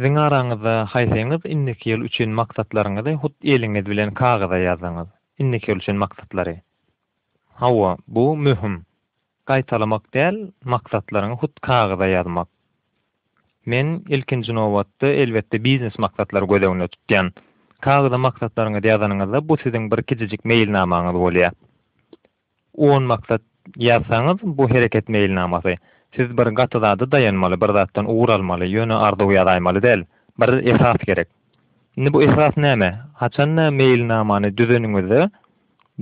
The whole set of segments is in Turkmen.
Siziň araňyzda haýsyňyz indiki ýyl üçin maksatlaryňyzy hut eliňiz bilen kagyza ýazyňyz. Indiki ýyl üçin maksatlary. Hawa, bu möhüm. Gaýtalamak däl, maksatlaryňy hut kagyza ýazmak. Men, ilkinji nobatda, elbetde, biznes maksatlary göz öňünde tutýan. Kagyza maksatlaryňyzy ýazanyňyzda, bu siziň bir kiçijik meýilnamaňyz bolýar. On maksat ýazsaňyz, bu hereket meýilnamasy. Siz bir gaty zada daýanmaly, bir zatdan ugur almaly, ýöne arzuw ýazaýmaly däl. Bir esas gerek. Indi bu esas näme? Haçan-da meýilnamany düzeniňizde,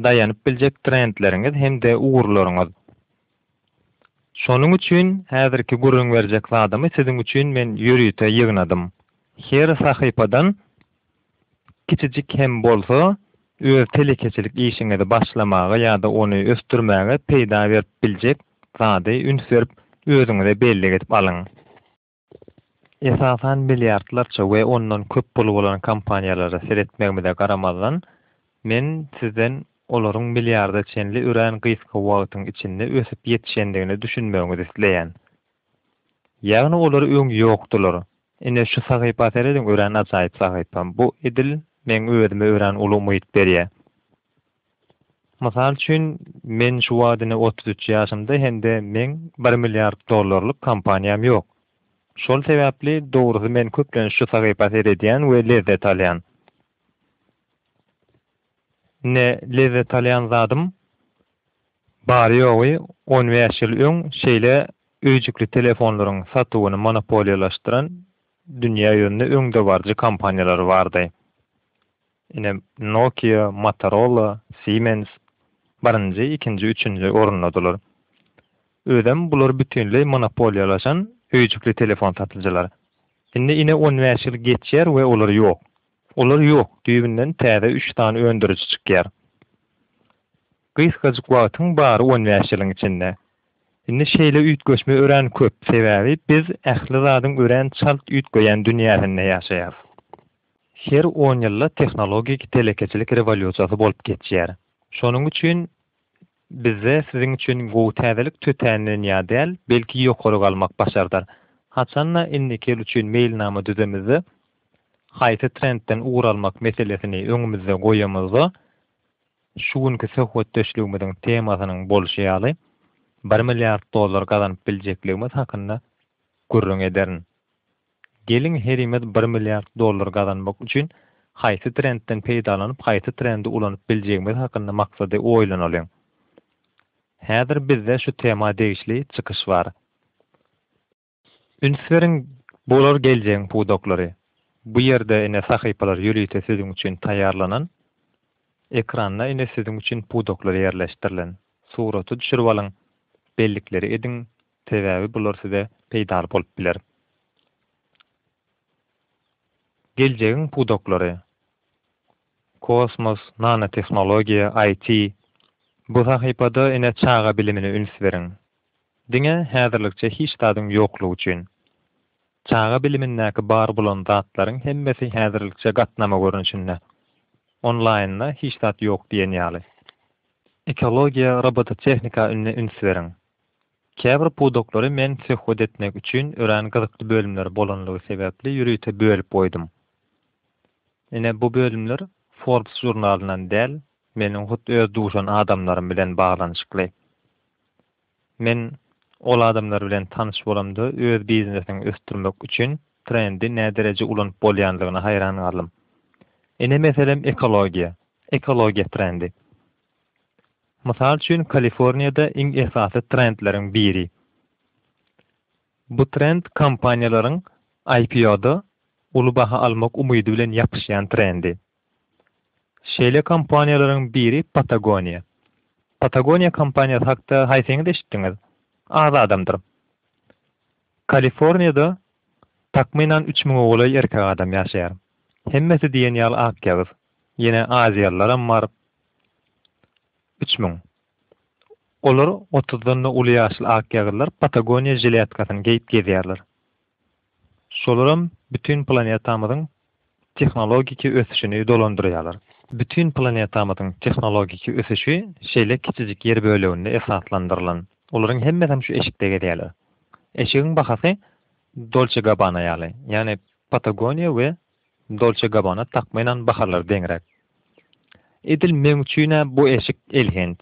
daýanyp biljek trendleriňiz hem-de ugurlaryňyz. Şonuň üçin häzirki gürrüň berjek zadymy siziň üçin men ýörite ýygnadym. Her sahypadan kiçijik hem bolsa öz telekeçilik işiňizi başlamaga ýa-da ony ösdürmäge peýda berip biljek zady üns berip özüňize bellik edip alyň. Esasan milliardlarça we ondan köp puly bolan kompaniýalara seretmegimize garamazdan, men sizden olaryň milliarda çenli örän gysga wagtyň içinde ösüp ýetişendigine düşünmegiňizi isleýän. Ýagny olar öň ýokdular. Ine şu sahypa serediň örän ajaýyp sahypa. Bu edil meň özüme örän uly umyt berýär. Mysal üçin, men şu wagt ine otuz üç ýaşymda hem-de meň bir milliard dollarlyk kompaniýam ýok. Şol sebäpli, dogrusy men köplenç şu sahypa seredýän we lezzet alýan. Ine, lezzet alýan zadym, bary-ýogy on bäş ýyl öň şeýle öýjükli telefonlaryň satuwyny monopoliýalaşdyran dünýä ýüzünde öňdebaryjy kompaniýalary bardy. Ine, Nokia, Motorola, Siemens birinji, ikinji, üçünji orundadylar. Özem bular bütinleý monopoliýalaşan öýjükli telefon satyjylar. Indi ine on bäş ýyl geçýär we olar ýok. Olar ýok, düýbünden täze üç sany öndüriji çykýar. Gysgajyk wagtyň bary on bäş ýylyň içinde. Indi şeýle üýtgeşme örän köp, sebäbi biz ähli zadyň örän çalt üýtgeýän dünýäsinde ýaşaýarys. Her on ýylda tehnologik telekeçilik rewolýusiýasy bolup geçýär. Şonuň üçin bizde siziň üçin gowy täzelik tötänden ýa däl, belki ýokary galmak başardar. Haçan-da indiki ýyl üçin meýilnama düzemizde, haýsy trendden ugur almak meselesini öňümizde goýamyzda, şu günki söhbetdeşligimiziň temasynyň bolşy ýaly, bir milliard dollar gazanyp biljekligimiz hakynda gürrüň ederin. Geliň herimiz bir milliard dollar gazanmak üçin haýsy trendden peýdalanyp haýsy trendi ulanyp biljegimiz hakynda maksady oýlanalyň. Häzir bizde şu tema degişli çykyş bar. Üns beriň bular geljegiň pudaklary. Bu ýerde ine sahypalar ýörite siziň üçin taýýarlanan. Ekranda ine siziň üçin pudaklar ýerleşdirilen. Suraty düşürip alyň, bellikleri ediň, Sebäbi bular size peýdaly bolup biler. Geljegiň pudaklary, kosmos, nanotehnologiýa, IT. Bu sahypada ene çaga bilimine üns beriň. Diňe häzirlikçe hiç zadyň ýoklugy üçin. Çaga bilimindäki bar bolan zatlaryň hemmesi häzirlikçe gatnama görnüşinde. Onlaýynda hiç zat ýok diýen ýaly. Ekologiýa, robototehnika üns beriň. Käbir pudaklary men söhbet etmek üçin örän gyzykly bölümleri bolanlygy sebäpli ýörite bölüp goýdum. Ine, bu bölümler Forbes žurnalyndan däl, meniň hut öz duşan adamlarym bilen baglanyşykly. Men ol adamlar bilen tanyş bolamda öz biznesini ösdürmek üçin trendi nädereje ulanyp bolýanlygyna haýran galdym. Ine, meselem, ekologiýa, ekologiýa trendi. Mysal üçin, Kaliforniýada iň esasy trendleriň biri. Bu trend kompaniýalaryň IPO-da uly baha almak umydy bilen ýapyşýan trendi. Şeýle kompaniýalaryň biri Patagoniýa. Patagoniýa kompaniýasy hakda haýsyňyz eşitdiňiz? Az adamdyr. Kaliforniýada takmynan üç müňe golaý erkek adam ýaşaýar. Hemmesi diýen ýaly akýagyz. Ýene aziýalylaram bar. Üç müň. Olar otuzdan-da uly ýaşly akýagyllar Patagoniýa žiletkasyny geýip gezýärler. Şolaram bütin planetamyzyň tehnologiki ösüşini dolandyrýarlar. Bütin planetamyzyň tehnologiki ösüşi şeýle kiçijik ýer böleginde esaslandyrylan. Olaryň hemmesem şu eşikde gezýärler. Eşigiň bahasy Dolçe Gabbana ýaly, ýagny Patagoniýa we Dolce Gabbana takmynan bahalar deňräk. Edil meň üçin-ä bu eşik elhenç.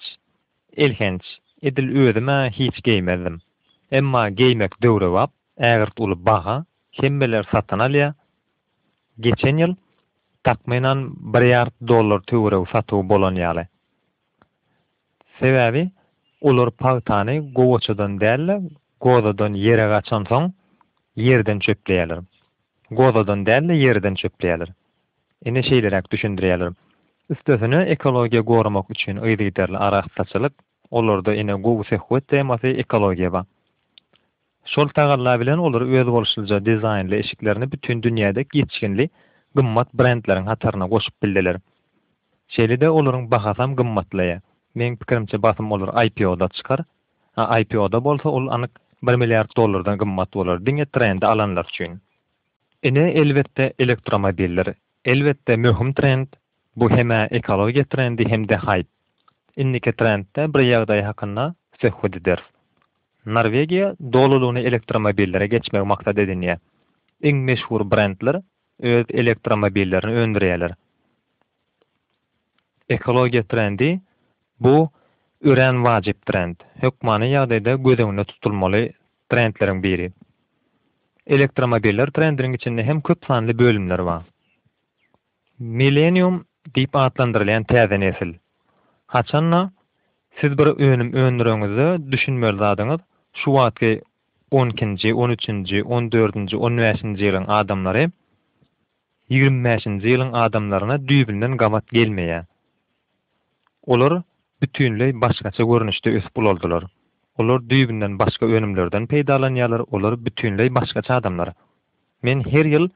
Elhenç, edil özüm-ä hiç geýmezdim. Emma geýmek döwrebap, ägirt uly baha, hemmeler satyn alýar. Geçen ýyl, takmynan, bir ýard dollar töweregi satuwy bolan ýaly. Sebäbi olar pagtany gowaçadan däl-de, gozadan ýere gaçansoň, ýerden çöpleýärler. Gozadan däl-de, ýerden çöpleýärler. Ine şeýleräk düşündirýärler. Üstesine ekologiýa goramak üçin yzygiderli arassaçylyk, olarda ine gowy söhbet temasy ekologiýa bar. Şol tagalla bilen olar özboluşlyja dizaýnly eşiklerini bütin dünýäde geçginli gymmat brendleriň hataryna goşup bildiler. Şeýle-de olaryň bahasam gymmatlaýar. Meň pikirimçe basym olar IPO-da çykar. A IPO-da bolsa ol anyk bir milliard dollardan gymmat bolar diňe trendi alanlar üçin. Ine elbetde elektromobiller. Elbetde möhüm trend, bu hem-ä ekologiýa trendi hem-de haýp. Indiki trendde bir ýagdaý hakynda söhbet ederis. Norwegiýa dolulygyna elektromobillere geçmegi maksat edinýär. Iň meşhur brendler öz elektromobillerini öndürýärler. Ekologiýa trendi, bu örän wajyp trend, hökmany ýagdaýda göz öňünde tutulmaly trendleriň biri. Elektromobiller trendiniň içinde hem köp sanly bölümler bar. Millenium diýip atlandyrylýan täze nesil. Haçan-da, siz bir önüm öndüreňizde düşünmeli zadyňyz, şu wagtky on ikinji, on üçünji, on dördünji, on bäşinji ýylyň adamlary ýigrimi bäşinji ýylyň adamlaryna düýbünden gabat gelmeýär. Olar bütinleý başgaça görnüşde ösüp ulaldylar. Olar düýbünden başga önümlerden peýdalanýarlar, olar bütinleý başgaça adamlar. Men her ýyl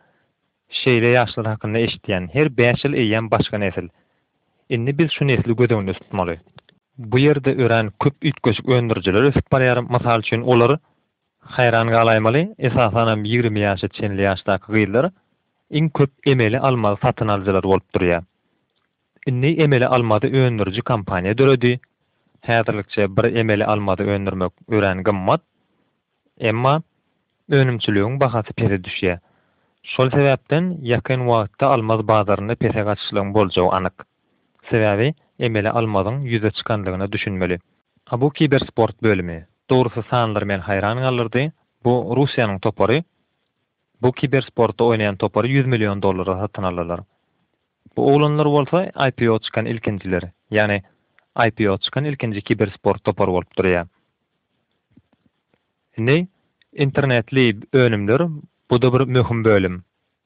Şeýle ýaşlar hakynda eşitýän, her bäş ýyl eýýäm başga nesil. Indi biz şu nesli göz öňünde tutmaly. Bu ýerde örän köp üýtgeşik öndürijiler ösüp barýar, mysal üçin olar, haýran galaýmaly, esasanam ýigrimi ýaşa çenli ýaşdaky gyzlar iň köp emeli almazy satyn alyjylar bolup durýar. Indi emeli almazy öndüriji kompaniýa döredi. Häzirlikçe bir emeli almazy öndürmek örän gymmat. Emma önümçiligiň bahasy pese düşýär. Şol sebäpden ýakyn wagtda almaz bazarynda pese gaçyşlygyň boljagy anyk. Sebäbi emeli almazyň ýüze çykandygyna düşünmeli. A bu kibersport bölümi, dogrusy sanlar meni haýran galdyrdy, bu Russiýanyň topary, bu kibersportda oýnaýan topary ýüz million dollara satyn aldylar. Bu oglanlar bolsa IPO çykan ilkinjiler, ýagny IPO çykan ilkinji kibersport topary bolup durýar. Indi internetli önümler bu-da bir möhüm bölüm.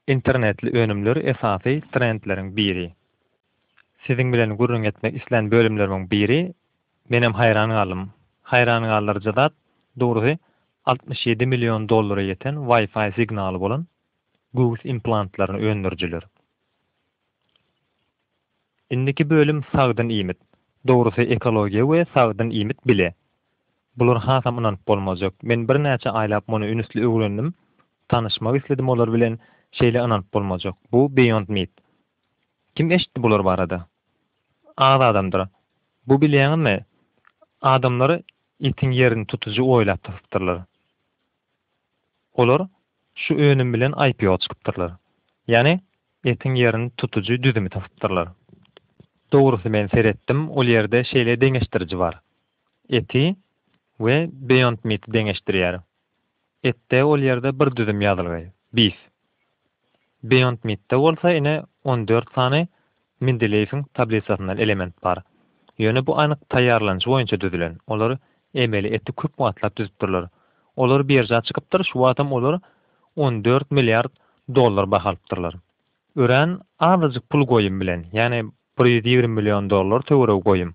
Internetli önümler esasy trendleriň biri. Siziň bilen gürrüň etmek islän bölümlerimiň biri menem haýran galdym. Haýran galdyryjy zat, dogrusy, altmyş ýedi million dollara ýeten Wi-Fi signaly bolan göwüs implantlaryny öndürijiler. Indiki bölüm sagdyn iýmit. Dogrusy ekologiýa we sagdyn iýmit bile. Bular hasam ynanyp bolmajak. Men birnäçe aýlap muny ünsli öwrendim. Tanyşmak isledim olar bilen. Şeýle ynanyp bolmajak. Bu Beyond Meat. Kim eşitdi bular barada? Az adamdyr. Bu bilýäňizmi? Adamlar itiň ýerini tutujy oýlap tapypdyrlar. Olar şu önüm bilen IPO çykypdyrlar. Ýani etiň ýerini tutujy düzümi tapypdyrlar. Dogrusy men seretdim ol ýerde şeýle deňeşdiriji bar. Eti we Beyond Meat-i deňeşdirýär. Etde ol ýerde bir düzüm ýazylgy, beef. Beyond Meat-de bolsa ine on dört sany Mendeleýewiň tablisasyndan element bar. Ýöne bu anyk taýýarlanyşy boýunça düzülen, olar emeli eti köp wagtlap düzüpdirler. Olar birža çykypdyr, şu wagtam olar on dört milliard dollar baha alypdyrlar. Örän azajyk pul goýum bilen, ýagny bir ýüz ýigrimi million dollar töweregi goýum.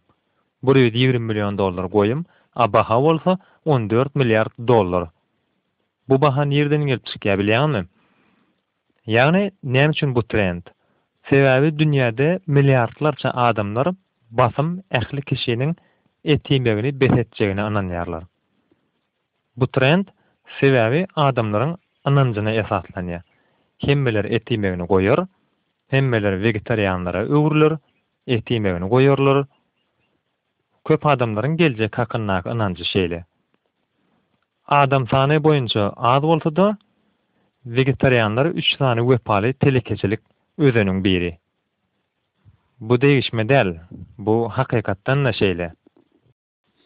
Bir ýüz ýigrimi million dollar goýum, a baha bolsa on dört milliard dollar. Bu baha nirden gelip çykýar bilýäňmi? Ýagny näme üçin bu trend? Sebäbi dünýäde milliardlarça adamlar basym ähli kişiniň et iýmegini bes etjegine ynanýarlar. Bu trend sebäbi adamlaryň ynanjyna esaslanýar. Hemmeler et iýmegini goýar, hemmeler wegetarianlara öwrüler, et iýmegini goýarlar. Köp adamlaryň geljek hakyndaky ynanjy şeýle. Adam sany boýunça az bolsa-da, wegetarianlar üç sany wepaly telekeçilik özeniň biri. Bu degişme däl, bu hakykatdan-da şeýle.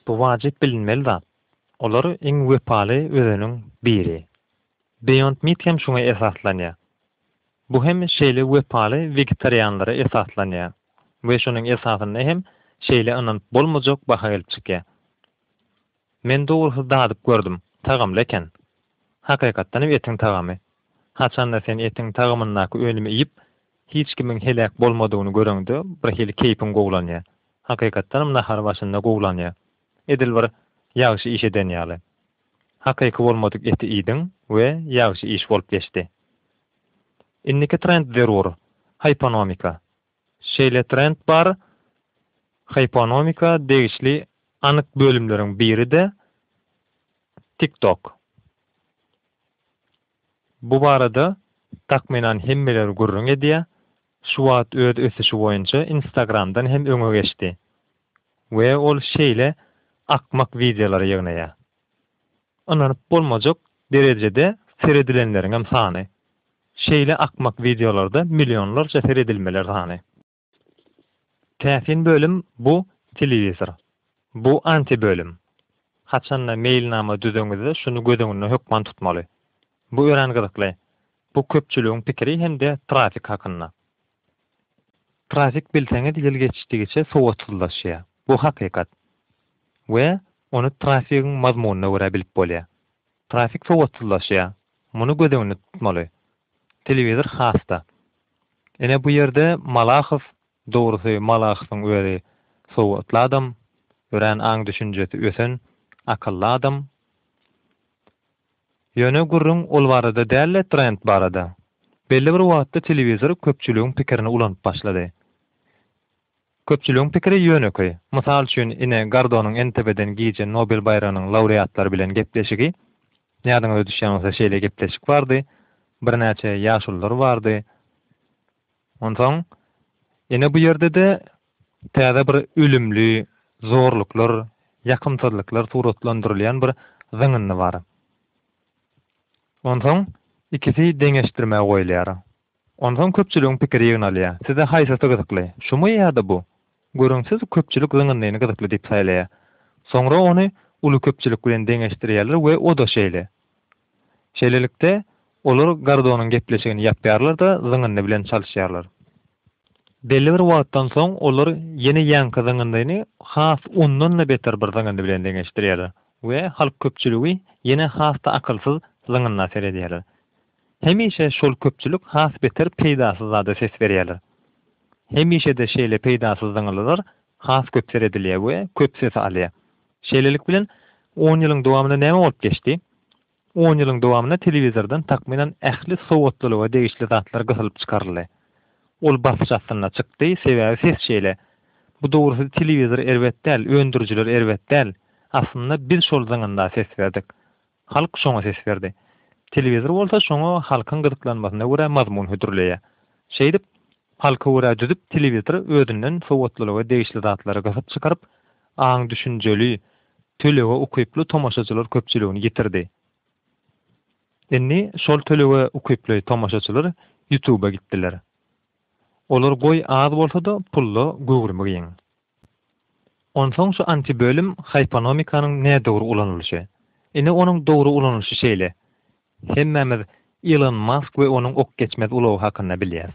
Bu wajyp bilinmeli zat. Olar iň wepaly özeniň biri. Beyond Meat hem şuňa esaslanýar. Bu hem şeýle wepaly wegetarianlara esaslanýar we şonuň esasynda hem şeýle ynanyp bolmajak baha gelip çykýar. Men dogrusyz dadyp gördüm, tagamly eken. Hakykatdanam etiň tagamy. Haçanda sen etiň tagamyndaky önümi iýip, hiç kimiň heläk bolmadygyny göreňde birhili keýpiň gowulanýar. Hakykatdanam nahar başynda gowulanýar. Edil bir ýagşy iş eden ýaly. Hakyky bolmadyk eti iýdiň we ýagşy iş bolup geçdi. Indiki trend zerur, hyponomika. Şeýle trend bar, hyponomika degişli anyk bölümleriň biri-de TikTok. Bu barada, takmynan, hemmeler gürrüň edýär, şu wagt öz ösüşi boýunça Instagramdan hem öňe geçdi we ol şeýle akmak wideolary ýygnaýar. Ynanyp bolmajak derejede seredilenleriňem sany. Şeýle akmak wideolarda millionlarça seredilmeler sany. Täsin bölüm bu telewizor. Bu anti bölüm. Haçanda meýilnama düzeňizde şuny göz öňünde hökman tutmaly. Bu örän gyzykly. Bu köpçüligiň pikiri hem-de trafik hakynda. Trafik bilseňiz ýyl geçdigiçe sowatsyzlaşýar. Bu hakykat. We ony trafigiň mazmunyna görä bilip bolýar. Trafik sowatsyzlaşýar. Muny göz öňünde tutmaly. Telewizor has-da. Ine bu ýerde Malahow, dogrusy Malahowyň özi sowatly adam, örän aň-düşünjesi ösen, akylly adam. Ýöne gürrüň ol barada däl-de trend barada. Belli bir wagtda telewizor köpçüligiň pikirini ulanyp başlady. Köpçüligiň pikiri ýönekeý. Mysal üçin ine Gardonyň NTW-den gije Nobel baýragynyň laureatlary bilen gepleşigi, ýadyňyza düşýän bolsa şeýle gepleşik bardy, birnäçe ýaşulular bardy, Onsoň, ine bu ýerde-de täze bir ölümli zorluklar, ýakymsyzlyklar suratlandyrylýan bir zyňyndy bar. Onsoň, ikisi deňeşdirmä goýulýar. Onsoň köpçüligiň pikiri ýygnalýar. Size haýsysy gyzykly? Şumy ýa-da bu? Görüň, siz köpçülik zyňyndyny gyzykly diýip saýlaýar. Soňra ony uly köpçülik bilen deňeşdirýärler we o-da şeýle. Şeýlelikde, olar Gardonyň gepleşigini ýapýarlar-da, zyňyndy bilen çalyşýarlar. Belli bir wagtdan soň olar ýene ýaňky zyňyndyny has ondan-da beter bir zyňyndy bilen deňeşdirýärler we halk köpçüligi ýene has-da akylsyz zyňynda seredýärler. Hemişe şol köpçülik has beter peýdasyz zada ses berýärler. Hemişe-de şeýle peýdasyz zyňylylar has köp seredilýär we köp sesi alýar. Şeýlelik bilen, on ýylyň dowamynda näme bolup geçdi? On ýylyň dowamynda telewizordan takmynan ähli sowatlylyga degişli zatlar gysylyp çykaryldy. Ol basyş astynda çykdy, sebäbi ses şeýle. Bu dogrusyz telewizor erbet däl, öndürijiler erbet däl. Aslynda biz şol zyňynda ses berdik. Halk şoňa ses berdi. Telewizor bolsa şoňa halkyň gyzyklanmasyna görä mazmun hödürleýär. Şeýdip, halka görä düzüp telewizor özünden sowatlylyga degişli zatlary gysyp çykaryp, aň düşünjeli, tölege ukyply tomaşaçylar köpçüligini ýitirdi. Indi şol tölege ukyply tomaşaçylar Ýutuba gitdiler. Olar goý az bolsa-da pulla göwrümi giň. Onsoň şu antibölüm hyponomikanyň nädogry ulanylyşy. Ine onuň dogry ulanylyşy şeýle. Hemmämiz Ilon Mask we onuň ok geçmez ulagy hakynda bilýäs.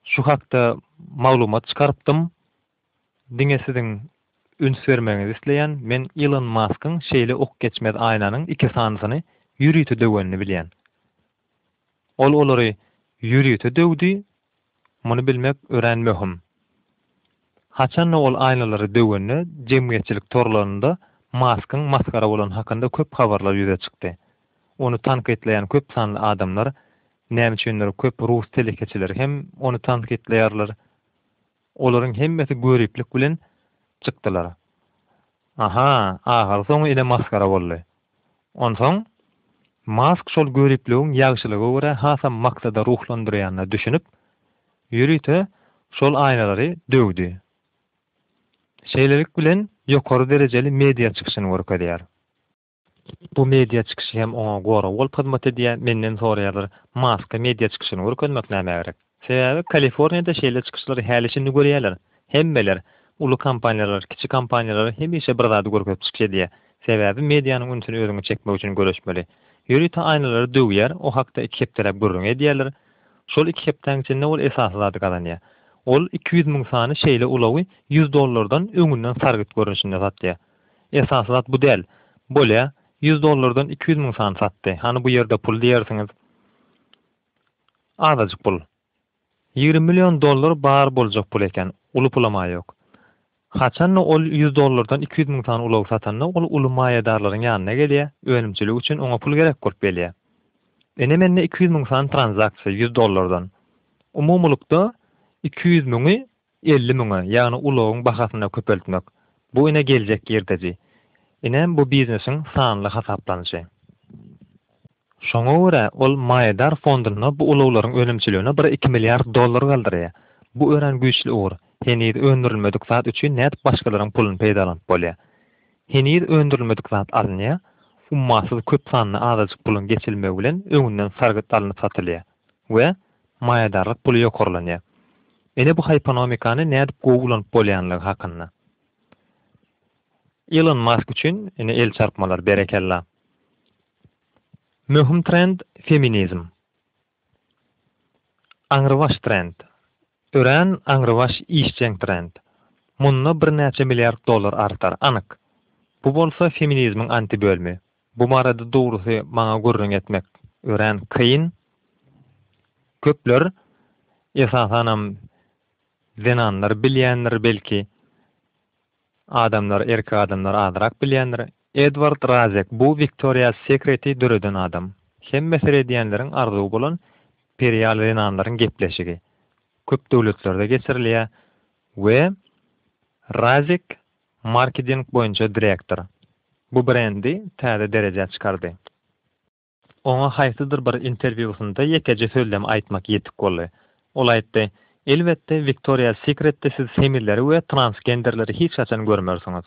Şu hakda maglumat çykarypdym. Diňe siziň üns bermegiňizi isleýän, men Ilon Maskyň şeýle ok geçmez aýnanyň iki sanysyny ýörite döwenini bilýän. Ol olary ýörite döwdi, muny bilmek örän möhüm. Haçan-da ol aýnalary döwende jemgyýetçilik torlarynda Maskyň masgara bolany hakynda köp habarlar ýüze çykdy. Ony tankytlaýan köp sanly adamlar, näme üçindir köp rus telekeçileri hem ony tankytlaýarlar. Olaryň hemmesi göriplik bilen çykdylar. Aha, ahyrsoňy ine masgara boldy. Onsoň Mask şol göripligiň ýagşylyga görä hasam maksada ruhlandyrýanyna düşünip, ýörite şol aýnalary döwdi. Şeýlelik bilen ýokary derejeli media çykyşyny görkezýär. Bu media çykyşy hem oňa gorag bolup hyzmat edýär, menden soraýarlar, Maska media çykyşyny görkezmek nämä gerek? Sebäbi Kaliforniýada şeýle çykyşlary häli şindi görýärler. Hemmeler, uly kompaniýalar, kiçi kompaniýalar hemişe bir zady görkezip çykyş edýär. Sebäbi medianyň ünsüni özüňe çekmek üçin göreşmeli. Ýörite aýnalary döwýär, o hakda iki hepdeläp gürrüň edýärler. Şol iki hepdäň içinde ol esasy zady gazanýar. Ol iki ýüz müň sany şeýle ulagy ýüz dollardan öňünden sargyt görnüşinde satýar. Esasy zat bu däl. Bolýa, ýüz dollardan iki ýüz müň sany satdy. Hany bu ýerde pul diýersiňiz. Azajyk pul. Ýigrimi million dollar bar boljak pul eken. Uly pulam-a ýok. Haçan-da ol ýüz dollardan iki ýüz müň sany ulagy satanda ol uly maýadarlaryň ýanyna gelýä, önümçilik üçin oňa pul gerek bolup gelýä. Ine mende iki ýüz müň sany tranzaksiýa ýüz dollardan. Umumylykda iki ýüz müňi elli müňe, ýagny ulagyň bahasyna köpeltmek. Bu ine geljek girdeji. Ine bu biznesiň sanly hasaplanyşy. Şoňa görä ol maýadar fondunda bu ulaglaryň önümçiligine bir-iki milliard dollar galdyrýar. Bu örän güýçli ugur. Heniz öndürilmedik zat üçin nädip başgalaryň puluny peýdalanyp bolýar? Heniz öndürilmedik zat alynýar, ummasyz köp sanly azajyk puluň geçirilmegi bilen öňünden sargyt alnyp satylýar we Maýadarlyk puly ýokarlanýar. Ine bu hyponomikany nädip gowy ulanyp bolýanlygy hakynda. Ilon Mask üçin ine el çarpmalar berekella. Möhüm trend feminizm. Aňrybaş trend. Örän aňrybaş işjeň trend. Munda birnäçe milliard dollar artar, anyk. Bu bolsa feminizmiň antibölümi. Bu barada dogrusy maňa gürrüň etmek örän kyn. Köpler, esasanam zenanlar bilýändir belki, adamlar, erkek adamlar azrak bilýändir. Edward Razek, bu Victoria's Secret-i döreden adam. Hemme seredýänleriň arzuwy bolan perial zenanlaryň gepleşigi. Köp döwletlerde geçirilýär we Razek Markeding boýunça direktor bu brendi täze derejä çykardy. Oňa haýsydyr bir interwýusynda ýekeje sözlem aýtmak ýetik boldy. Ol aýtdy, Elbetde, Victoria's Secretde siz semizleri we transgenderleri hiç haçan görmersiňiz.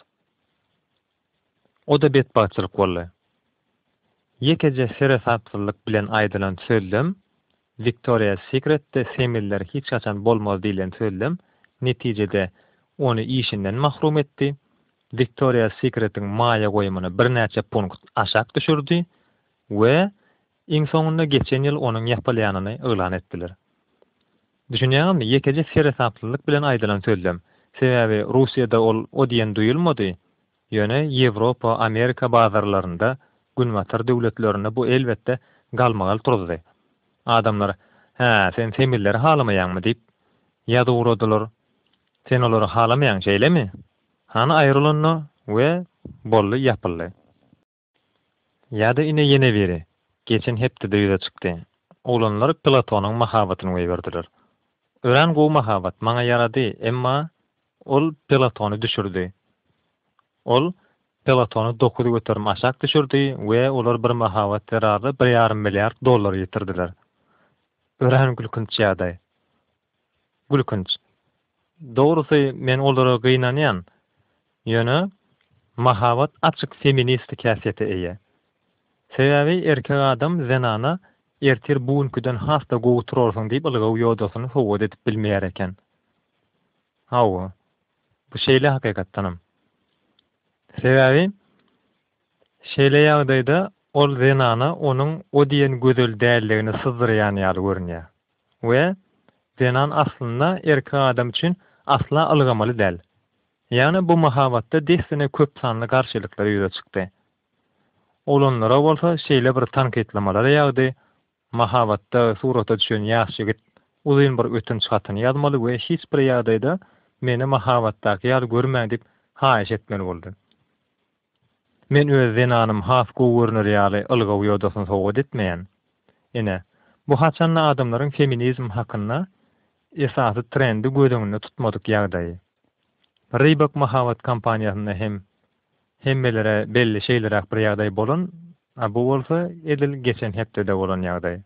O-da betbagtçylyk boldy. Ýekeje seresapsyzlyk bilen aýdylan sözlem Victoria's Secretde semiller hiç haçan bolmaz diýlen sözlem netijede ony işinden mahrum etdi. Victoria's Secretiň maýa goýumyny birnäçe punkt aşak düşürdi we iň soňunda geçen ýyl onuň ýapylýanyny yglan etdiler. Düşünýäňizmi, ýekeje seresaplylyk bilen aýdylan sözlem. Sebäbi Russiýada ol o diýen duýulmady, Ýöne Ýewropa, Amerika bazarlarynda Günbatar döwletlerinde bu elbetde galmagal turuzdy. Adamlar, Hä, sen semilleri halamaýaňmy? diýip, ýaz ugradylar. Sen olary halamaýaň, şeýlemi? Hany aýrylanda we boldy, ýapyldy. Ýa-da ine ýene biri, geçen hepdede ýüze çykdy. Oglanlar Platonyň mahabatyny goýberdiler. Örän gowy mahabat, maňa ýarady, emma ol Platony düşürdi. Ol Platony dokuz göterim aşak düşürdi we olar bir mahabat zerarly bir ýarym milliard dollar ýitirdiler. Örän gülkünç ýagdaý. Gülkünç. Dogrusy men olara gynanýan. Ýöne mahabat açyk feministik häsiýete eýe. Sebäbi erkek adam zenana ertir bu günküden has-da gowy turarsyň diýip ylgaw ýodasyny sowgat edip bilmeýär eken. Hawa. Bu şeýle hakykatdanam. Sebäbi şeýle ýagdaýda ol zenana onuň o diýen gözel däldigini syzdyrýan ýaly görünýär. We zenan aslynda erkek adam üçin asla ylgamaly däl. Ýagny bu mahabatda dessine köp sanly garşylyklar ýüze çykdy. Oglanlara bolsa şeýle bir tankytlamalar ýagdy, Mahabatda surata düşen ýaş ýigit uzyn bir ötünç hatyny ýazmaly we hiç bir ýagdaýda meni mahabatdaky ýaly görmäň diýip haýyş etmeli boldy. Men öz zenanym has gowy görner ýaly ylgaw ýodasyny sowgat etmeýän. Ine, bu haçan-da adamlaryň feminizm hakynda esasy trendi göz öňünde tutmadyk ýagdaýy. Reebok mahabat kampaniýasynda hem hemmelere belli şeýleräk bir ýagdaý bolan, a bu bolsa edil geçen hepdede bolan ýagdaý.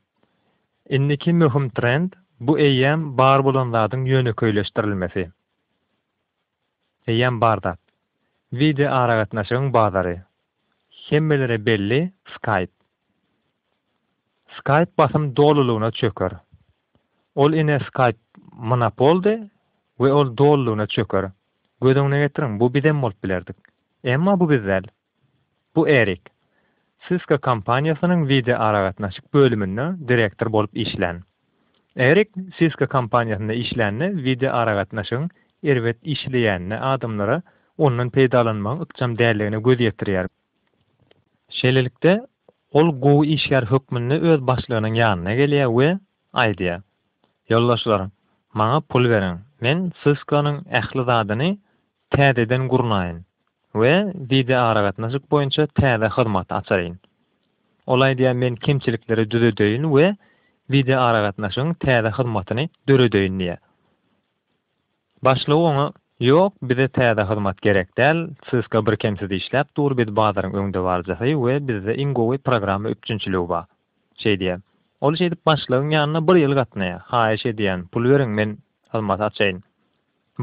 Indiki möhüm trend, bu eýýäm bar bolan zadyň ýönekeýleşdirilmesi. Eýýäm bar zat. Wideo aragatnaşygyň bazary. Hemmelere belli Skype. Skype basym dolulygyna çöker. Ol ine Skype monopoldy we ol dolulygyna çöker. Göz öňüne getiriň, bu bizem bolup bilerdik. Emma bu biz däl. Bu Erik. Cisco kompaniýasynyň wideoaragatnaşyk bölüminde direktor bolup işlän. Erik Cisco kompaniýasynda işlände wideoaragatnaşygyň erbet işleýänine adamlara ondan peýdalanmagyň ykjam däldigine göz ýetirýär. Şeýlelikde, ol gowy işgär hökmünde öz başlygynyň ýanyna gelýär we aýdýar, Ýoldaşlar, maňa pul beriň, men Cisco-nyň ähli zadyny täzeden gurnaýyn we wideoaragatnaşyk boýunça täze hyzmat açaýyn. Ol aýdýar men kemçilikleri düzedeýin we wideoaragatnaşygyň täze hyzmatyny döredeýin diýýär. Başlygy oňa Ýok, bize täze hyzmat gerek däl, Cisco birkemsiz işläp dur, biz bazaryň öňdebaryjysy we bizde iň gowy programma üpjünçiligi bar. Şeý diýýär. Ol şeýdip başlygyň ýanyna bir ýyl gatnaýar. Haýyş edýän, pul beriň, men hyzmat açaýyn.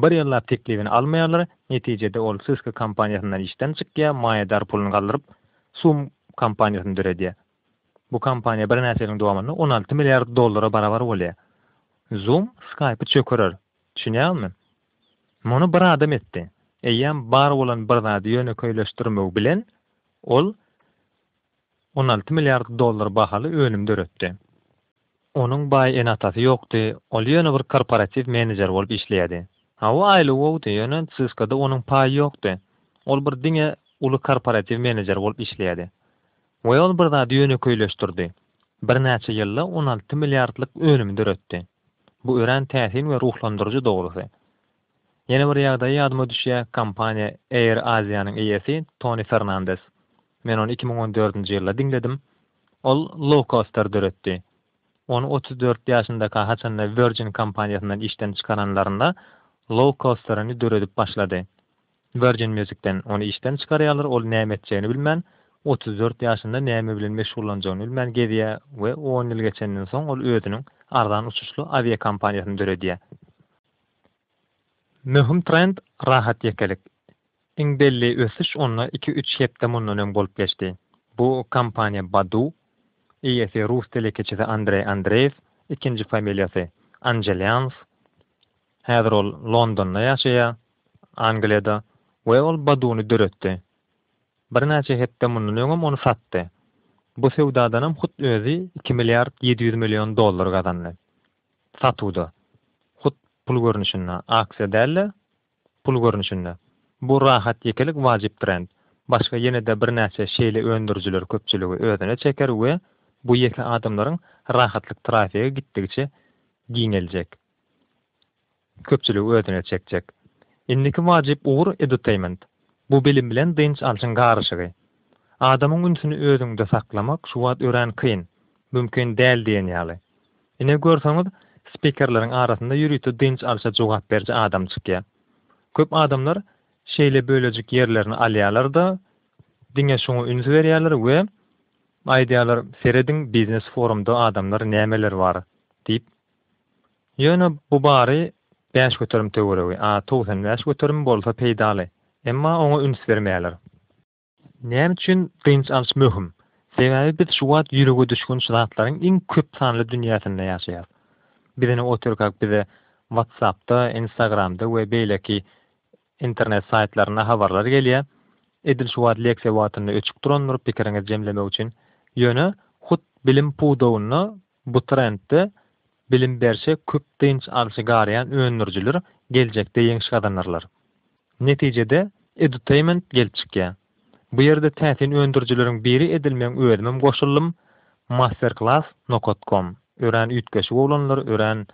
Bir ýyllap teklibini almaýarlar, netijede ol Cisco kompaniýasyndan işden çykýar, maýadar puluny galdyryp, Zoom kompaniýasyny döredýär. Bu kompaniýa birnäçe ýylyň dowamynda on alty milliard dollara barabar bolýar. Zoom Skype-y çökerer. Düşünýäňizmi? Muny bir adam etdi. Eýýäm bar bolan bir zady ýönekeýleşdirmegi bilen, ol on alty milliard dollar bahaly önüm döretdi. Onuň baý ene-atasy ýokdy, ol ýöne bir korporatiw menejer bolup işleýärdi. Hawa, aýlygy bowdy, ýöne Cisco-da onuň paýy ýokdy. Ol bir diňe uly korporatiw menejer bolup işleýärdi. We ol bir zady ýönekeýleşdirdi. Birnäçe ýylda on alty milliardlyk önümi döretdi. Bu örän täsin we ruhlandyryjy dogrusy. Ýene bir ýagdaý ýadyma düşýä, kompaniýa Air Asia-nyň eýesi Toni Fernandes. Men ony iki müň on dördünji ýylda diňledim. Ol Low-Coaster döretdi. Ony otuz dört ýaşyndaka haçanda Virgin kompaniýasyndan işden çykaranlarynda Low-Coaster-yny döredip başlady. Virgin Music-den ony işden çykarýarlar, ol näme etjegini bilmän, otuz dört ýaşynda näme bilen meşgullanjagyny bilmän gezýä we on ýyl geçenden soň ol özüniň arzan uçuşly awiakompaniýasyny döredýä. Möhüm trend rahat ýekelik. Iň belli ösüş onda iki-üç hepde mundan öň bolup geçdi. Bu kompaniýa Badu, eýesi rus telekeçisi Andreý Andreýew, ikinji familiýasy Anjelýanw. Häzir ol Londonda ýaşaýar, Angliýada, we ol Baduny döretdi. Birnäçe hepde mundan öňem ony satdy. Bu söwdadanam hut özi iki milliard ýedi ýüz million dollar gazandy. Satuwda, hut pul görnüşinde, aksiýa däl-de, pul görnüşinde. Bu rahat ýekelik wajyp trend. Başga ýene-de birnäçe şeýle öndürijiler köpçüligi özüne çeker we bu ýeke adamlaryň rahatlyk trafigi gitdigiçe giňeljek. köpçüligi özüne çekjek. Indiki wajyp ugur edutainment. Bu bilim bilen dynç alşyň garyşygy. Adamyň ünsüni özüňde saklamak şu wagt örän kyn, mümkin däl diýen ýaly. Ine görseňiz, spikerleriň arasynda ýörite dynç alşa jogap beriji adam çykýar. Köp adamlar şeýle bölejik ýerlerini alýarlar-da, diňe şoňa üns berýärler we aýdýarlar, Serediň, biznes-forumda adamlar nämeler bar? diýip. Ýöne bu bary bäş göterim töweregi, a togsan bäş göterim bolsa peýdaly. Emma oňa üns bermeýärler. Näme üçin dynç alyş möhüm? Sebäbi biz şu wagt ýürege düşgünç zatlaryň iň köp sanly dünýäsinde ýaşaýarys. Bizini oturkak bize WhatsApp-da, Instagram-da we beýleki internet saýtlarynda habarlar gelýär. Edil şu wagt leksiýa wagtynda öçüp durandyr pikiriňizi jemlemek üçin. Ýöne hut bilim pudagynda bu trendde Bilim berşe köp dynç alşy garaýan öndürijiler geljekde ýeňiş gazanarlar. Netijede Edutainment gelip çykýar. Bu ýerde täsin öndürijileriň biri edilmegiň özümem goşuldym Masterclass nokat com örän üýtgeşik oglanlar örän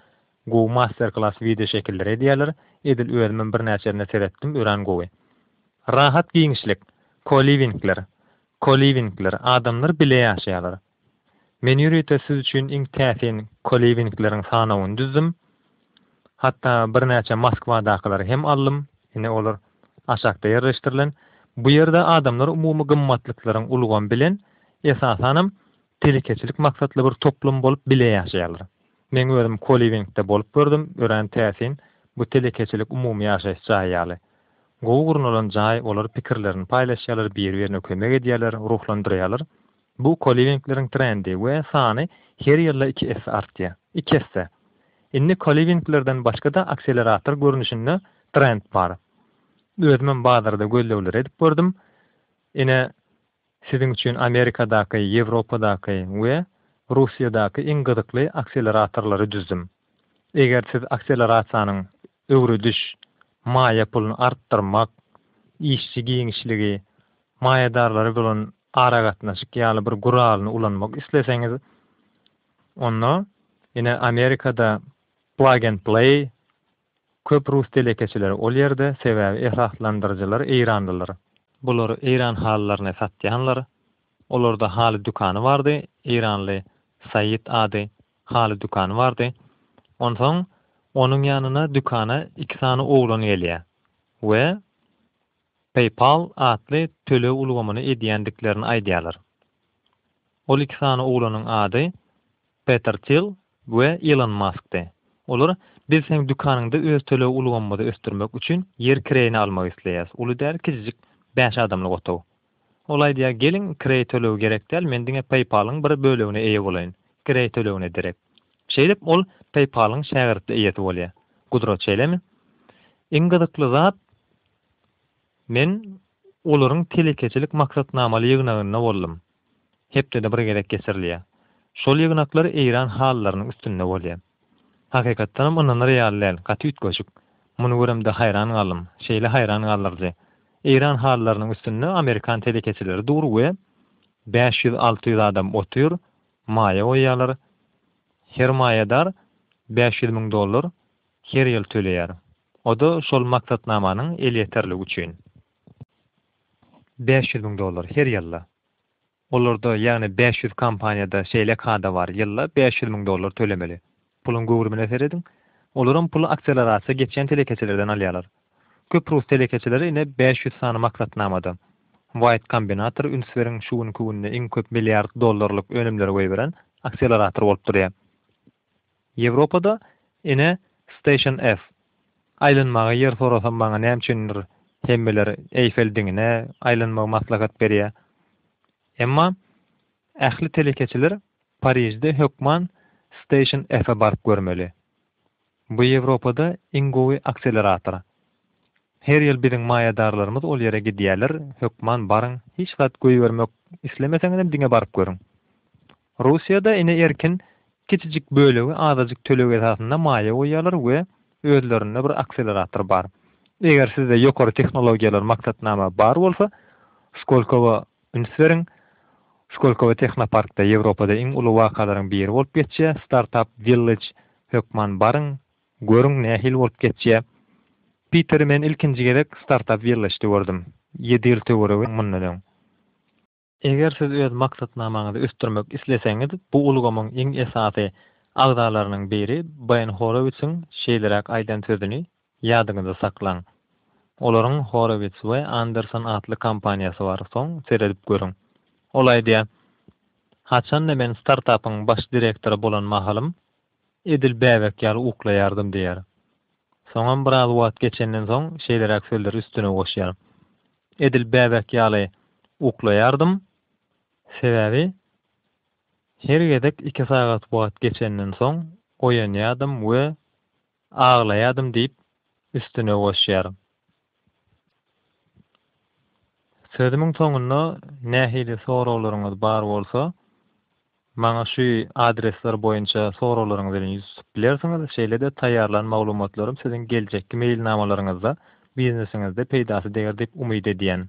gowy masterclass wideo şekilleri edýärler edil özümem birnäçesine seretdim örän gowy. Rahat giňişlik, co-livingler, co-livingler adamlar bile ýaşaýarlar. Men ýörite siz üçin iň täsin koliwingleriň sanawyny düzdüm. Hatda birnäçe Moskwadakylar hem aldym, ine olar aşakda ýerleşdirilen. Bu ýerde adamlar umumy gymmatlyklaryň ulgamy bilen, esasanam, telekeçilik maksatly bir toplum bolup bile ýaşaýarlar. Meň özüm koliwingde bolup gördüm, örän täsin, bu telekeçilik umumy ýaşaýyş jaýy ýaly. Gowy gurnalan jaý, olar pikirlerini paýlaşýarlar, biri-birine kömek edýärler, ruhlandyrýarlar. Bu koliwingleriň trendi we sany her ýylda iki esse artýar. Iki esse! Indi koliwinglerden başga-da akselerator görnüşinde trend bar. Özümem bazarda gözlegleri edip gördüm. Ine, siziň üçin Amerikadaky, Ýewropadaky we Russiýadaky iň gyzykly akseleratorlary düzdüm. Eger siz akselerasiýanyň öwrediş, maýa puluny artdyrmak, işçi giňişligi, maýadarlary bolan aragatnaşyk ýaly bir guralyny ulanmak isleseňiz, onda ine Amerikada plug and play köp rus telekeçileri ol ýerde, sebäbi esaslandyryjylar eýranlylar. Bular eýran halylaryny satýanlar. Olarda haly dükany bardy, eýranly Said ady haly dükany bardy. Onsoň onuň ýanyna dükana iki sany oglan gelýär we PayPal atly töleg ulgamyny edýändiklerini aýdýarlar. Ol iki sany oglanyň ady Peter Thiel we Ilon Maskdy. Olar, Biz seň dükanyňda öz töleg ulgamymyzy ösdürmek üçin ýer kireýine almak isleýäris. Uly däl, kiçijik bäş adamlyk otag. Ol aýdýar, Geliň, kireý tölegi gerek däl, men diňe PayPal-yň bir bölegine eýe bolaýyn. Kireý tölegine derek. Şeýdip, ol PayPal-yň şägirtli eýesi bolýar. Gudrat şeýlemi? Iň gyzykly zat, Men olaryň telekeçilik maksatnamaly ýygnagynda boldum. Hepdede bir gezek geçirilýär. Şol ýygnaklar eýran halylarynyň üstünde bolýar. Hakykatdanam ynanyr ýaly däl, gaty üýtgeşik. Muny göremde haýran galdym. Şeýle haýran galdyryjy. Eýran halylarynyň üstünde amerikan telekeçileri dur we bäş ýüz, alty ýüz adam otyr, maýa goýýarlar. Her maýadar bäş ýüz müň dollar her ýyl töleýär. O-da şol maksatnamanyň elýeterligi üçin. Bäş ýüz müň dollar, her ýylda. Olarda, ýagny bäş ýüz kompaniýada şeýle kada bar, ýylda bäş ýüz müň dollar tölemeli. Puluň göwrümine serediň. Olaram puly akselerasiýa geçýän telekeçilerden alýarlar. Köp rus telekeçileri ine bäş ýüz sany maksatnamada. Wide Combinator, üns beriň, şu günki günde iň köp milliard dollarlyk önümleri goýberen akselerator bolup durýar. Ýewropada, ine, Station F. Aýlanmaga ýer sorasam maňa näme üçindir hemmeler Eýfel diňine aýlanmagy maslahat berýär. Emma ähli telekeçiler Parižde hökman Station F-e baryp görmeli. Bu Ýewropada iň gowy akselerator. Her ýyl biziň maýadarlarymyz ol ýere gidýärler, hökman baryň, hiç zat goýbermek islemeseňizem diňe baryp görüň. Russiýada ene erkin kiçijik bölegi azajyk töleg esasynda maýa goýýarlar we özlerinde bir akselerator bar. Eger sizde ýokary tehnologiýalar maksatnama bar bolsa, Skolkowa üns beriň. Skolkowa Tehnoparkda Ýewropada iň uly wakalaryň biri bolup geçýär, Startup Village, hökman baryň, görüň nähili bolup geçýär. Piteri men ilkinji gezek Startup Village-de gördüm, ýedi ýyl töweregi mundan öň. Eger siz öz maksatnamaňyzy ösdürmek isleseňiz, bu ulgamyň iň esasy agzalarynyň biri Beýn Horowitsiň şeýleräk aýdan sözüni ýadyňyzda saklaň, Olaryň Horowitz we Anderson atly kompaniýasy bar, soň seredip görüň. Ol aýdýar, Haçanda men startapyň baş direktory bolan mahalym, edil bäbek ýaly uklaýardym diýýär. Soňam biraz wagt geçenden soň şeýleräk sözleri üstüne goşýar. Edil bäbek ýaly uklaýardym, sebäbi her gezek iki sagat wagt geçenden soň oýanýardym we aglaýardym diýip üstüne goşýar. Sözümiň soňunda nähili soraglaryňyz bar bolsa, Maňa şu adresler boýunça soraglaryňyz bilen ýüz tutup bilersiňiz, şeýle-de taýýarlan maglumatlarym siziň geljekki meýilnamalaryňyzda, biznesiňizde peýdasy deger diýip umyt edýän.